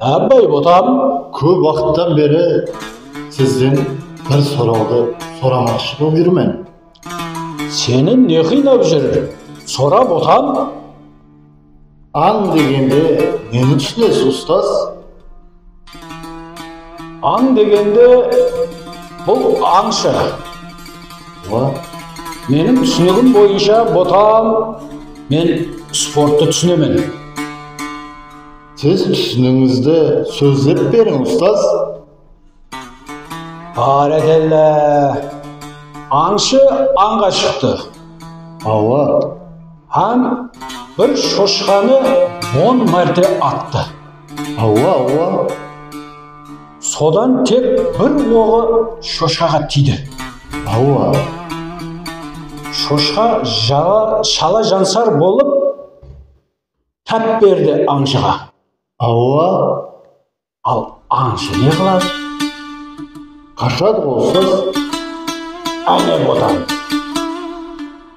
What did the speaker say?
Ábay otam kóp waqıttan beri sizden bir sorawdı soramaqshı bolıp júrmen. Seni ne qıynap júr sorap otam? Ań degende neni túsinesiz ustaz? Ań degende bul ańshı. Meniń túsinigim boyınsha botam men sporttı túsinemen. Siz túsinińizdi sózlep beriń ustaz. Bárekella! Ańshı ańǵa shıqtı. Awa. Hám bir shoshqanı on márte attı. Awwa awwa sodan tek bir oǵı shoshkaǵa tiydi. Awwa shoshka shala jansar bolıp tap berdi ańshıǵa. Awwa al ańshı ne qıladı. Qashadı ǵoy siz áne botańız.